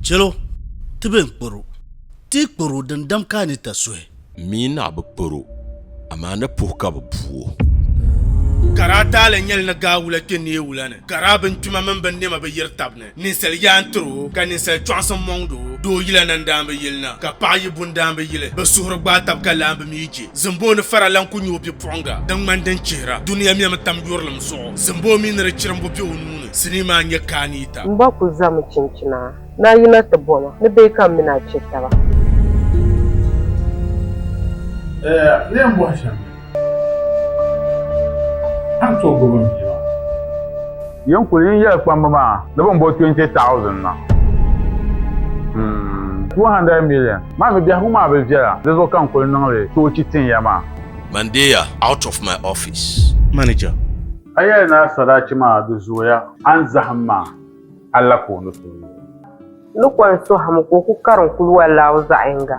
Chɛlo, ti bɛn kpɔr o, ti yi kpɔr o dindam ka a ni ta suhi. Mi ni a bi kpɔr o, amaa ni puhi ka bɛ bu o. Ka daa taali nyɛli ni gaa wula kpe neei wula ni, ka daa bingbima mini binnɛma bi yiri tab ni, ninsal yaa n-tir o, ka ninsal chɔɣisim mɔŋd o. Doo yila na n-daan bi yili na, ka paɣ yi bu n-daan bi yili. Bɛ suhuri gbaai tab ka laambi mi je. Zimboo ni fara lan ku nyɛ o bipuɣiŋga din ŋmani din chihira dunia mɛmi tam yurilim zuɣu. Zimboo mi ni di chirimbu be o nuu ni, sinii maa n-nyɛ Kaaniita. M ba ku zami chinchina ni a yina ti bo ma ni bee ka m mini a che taba. Eya leen bɔhi shɛm ni a ni tooi gbubi m bia maa. Yin kuli yin yɛli kpamba maa ni bɛ ni bo 20,000 na. Hmm. 200 million maa mi biɛhigu maa bi viɛla, di zuɣu ka n kuli niŋ li toochi tin ya maa. Mandeya out of my office. Manager. A yɛli ni a sadachi maa di zooya, a ni zahim ma a la ka o ni tooi. Ni kɔŋ sohim ka o ku karim kuluwa laaw zaɣ yiŋga.